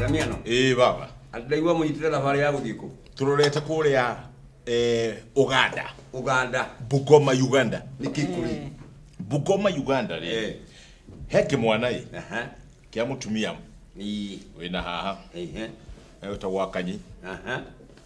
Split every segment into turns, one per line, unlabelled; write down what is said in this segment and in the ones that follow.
Damiano, ĩĩ baba ndaigua mũnyitĩte thabarĩ ya gũthiĩ kũ? tũrorete kũrĩa eh, uganda Uganda. bugoma uganda Nĩ Kĩkũri. bugoma uganda rĩ Eh. he kĩmwana ĩ Aha. kĩa mũtumia Ii. wĩna haha Ehe. etagwo akanyi Aha.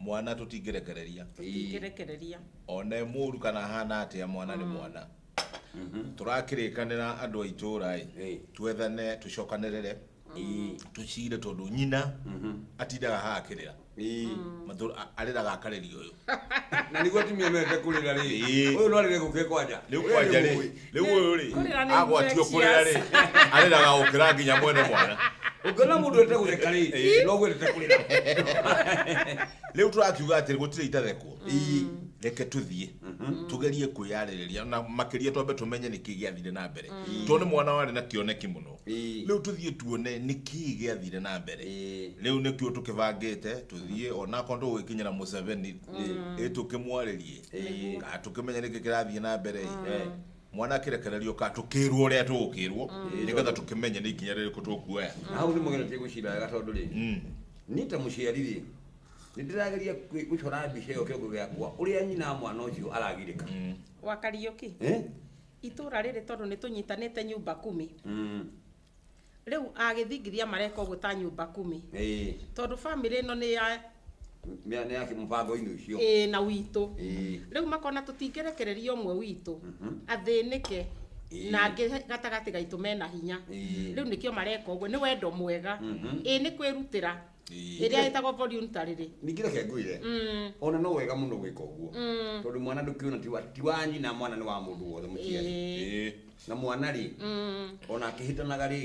mwana tũtingĩrekereria tũtingĩrekereria one mũru kana hana atĩa mwana nĩ mwana tũrakĩrĩkanĩra andũ a itũra ĩ Ĩĩ. twethane tũcokanĩrĩre Ĩĩ. tũcire tondũ nyina atindaga haha akĩrĩra Ĩĩ. Matũ- a- arĩraga akarĩria ũyũ na niguo atumia mende kũrĩra rĩ Ĩĩ. ũyũ no arĩre gũke kwanja nĩ ũkwanja rĩ rĩu ũyũ rĩ Kũrĩra nĩ agwatio infectious. kũrĩra rĩ arĩraga gũkĩra nginya mwene mwana ũngĩona mũndũ ete gũtheka rĩ no gwendete kũrĩra rĩu tũrakiuga atĩrĩ gũtirĩ itathekwo reke tũthiĩ tũgerie kwĩyarĩrĩria na makĩria twambe tũmenye nĩkĩ gĩathire na mbere tondũ nĩ mwana warĩ na kĩoneki mũno Ĩĩ. rĩu tũthiĩ tuone nĩkĩ gĩathire na mbere Ĩĩ. rĩu nĩkĩo tũkĩbangĩte tũthiĩ onakorwo ndũgwĩkinyĩra mũceveni ĩ tũkĩmwarĩrie Ĩĩ. Ah, tũkĩmenya nĩkĩ kĩrathiĩ na mbere Eh. mwana akĩrekererio ka tũkĩrwo ũrĩa tũgũkĩrwo nĩgetha tũkĩmenye nĩ ikinya rĩrĩkũ tũkuoya Na hau nĩ mũgeretie gwĩcira wega tondũ rĩ Mm. niĩ ta mũciari rĩ nĩ ndĩrageria kwĩ- gũcora mbica ĩyo kĩongo gĩakwa ũrĩa nyina wa mwana ũcio aragirĩka Wakariũki. Eh? Itũra rĩrĩ tondũ nĩ tũnyitanĩte nyumba kumi. Mm. rĩu agĩthingithia mareka ũguo ta nyũmba kumi ĩĩ tondũ bamĩrĩ ĩno nĩ ya nĩ nĩ yake mũbango-inĩ ũcio ĩĩ na witũ ĩĩ rĩu makona tũtingĩrekereria ũmwe witũ Mhm. athĩnĩke Ĩĩ. na angĩ gatagatĩ gaitũ mena hinya Ĩĩ. rĩu nĩkĩo mareka ũguo nĩ wendo mwega Mhm. ĩĩ nĩ kwĩrutĩra rĩrĩa ĩtagwo volunta rĩrĩ ningĩ reke ngwĩre mm. ona no wega mũno gwĩka ũguo mm. tondũ mwana ndũkĩona ti wa nyina mwana nĩ wa mũndũ wothe mũciari na mwana rĩ mm. ona akĩhĩtanaga rĩ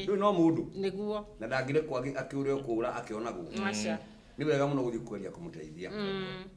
ndũĩ no mũndũ nĩguo na ndangĩrekwo akĩũrĩa kũũra akĩonagwo nĩ wega mũno gũthiĩ kweria kũmũteithia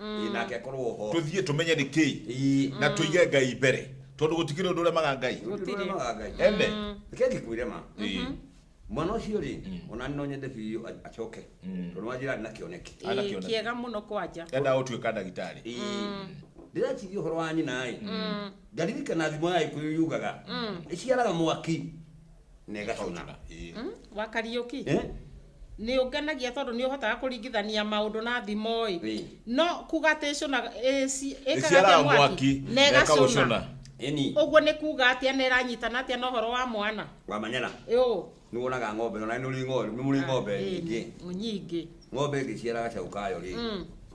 Ĩ, nake akorwo ho tuthiĩ tumenye nĩ kĩĩ Ĩ, na tuige ngai mbere tondũ gũtikĩrĩ ũndũ ũremaga ngai Gũtirĩ. ndũremaga Ngai. ene reke ngĩkwĩre ma Ĩ, mwana ũcio rĩ ona nĩ no nyende biũ a- acoke tondũ wanjĩra arĩ na kĩoneki Ĩ, Ana kĩoneki. kĩega mũno kwanja endaga gũtuĩka ndagĩtarĩ Ĩ, ndĩreciria ũhoro wa nyina ĩ ngaririkana thimo ya gĩkũyũ yugaga ĩciaraga mwaki na ĩgacuna Ĩkahũthĩra, ĩĩ. Mm, wa kariũki Eh? nĩ ũngenagia tondũ nĩ ũhotaga kũringithania maũndũ na thimo Ĩĩ. ĩ no kuga atĩ ĩcũna Ĩciaraga mwaki, na na ĩgacũna ĩkagũcũna. ĩni ũguo nĩ kuga atĩa na ĩranyitana atĩa na ũhoro wa mwana wamanyana ĩũ nĩ wonaga ng'ombe ona nĩ ũrĩ ng'ombe nĩ mũrĩ ng'ombe nyingĩ nyingĩ ng'ombe ĩngĩciara gacaũ kayo rĩ Mm.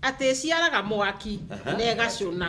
atĩ ĩciaraga mwaki na ĩgacũna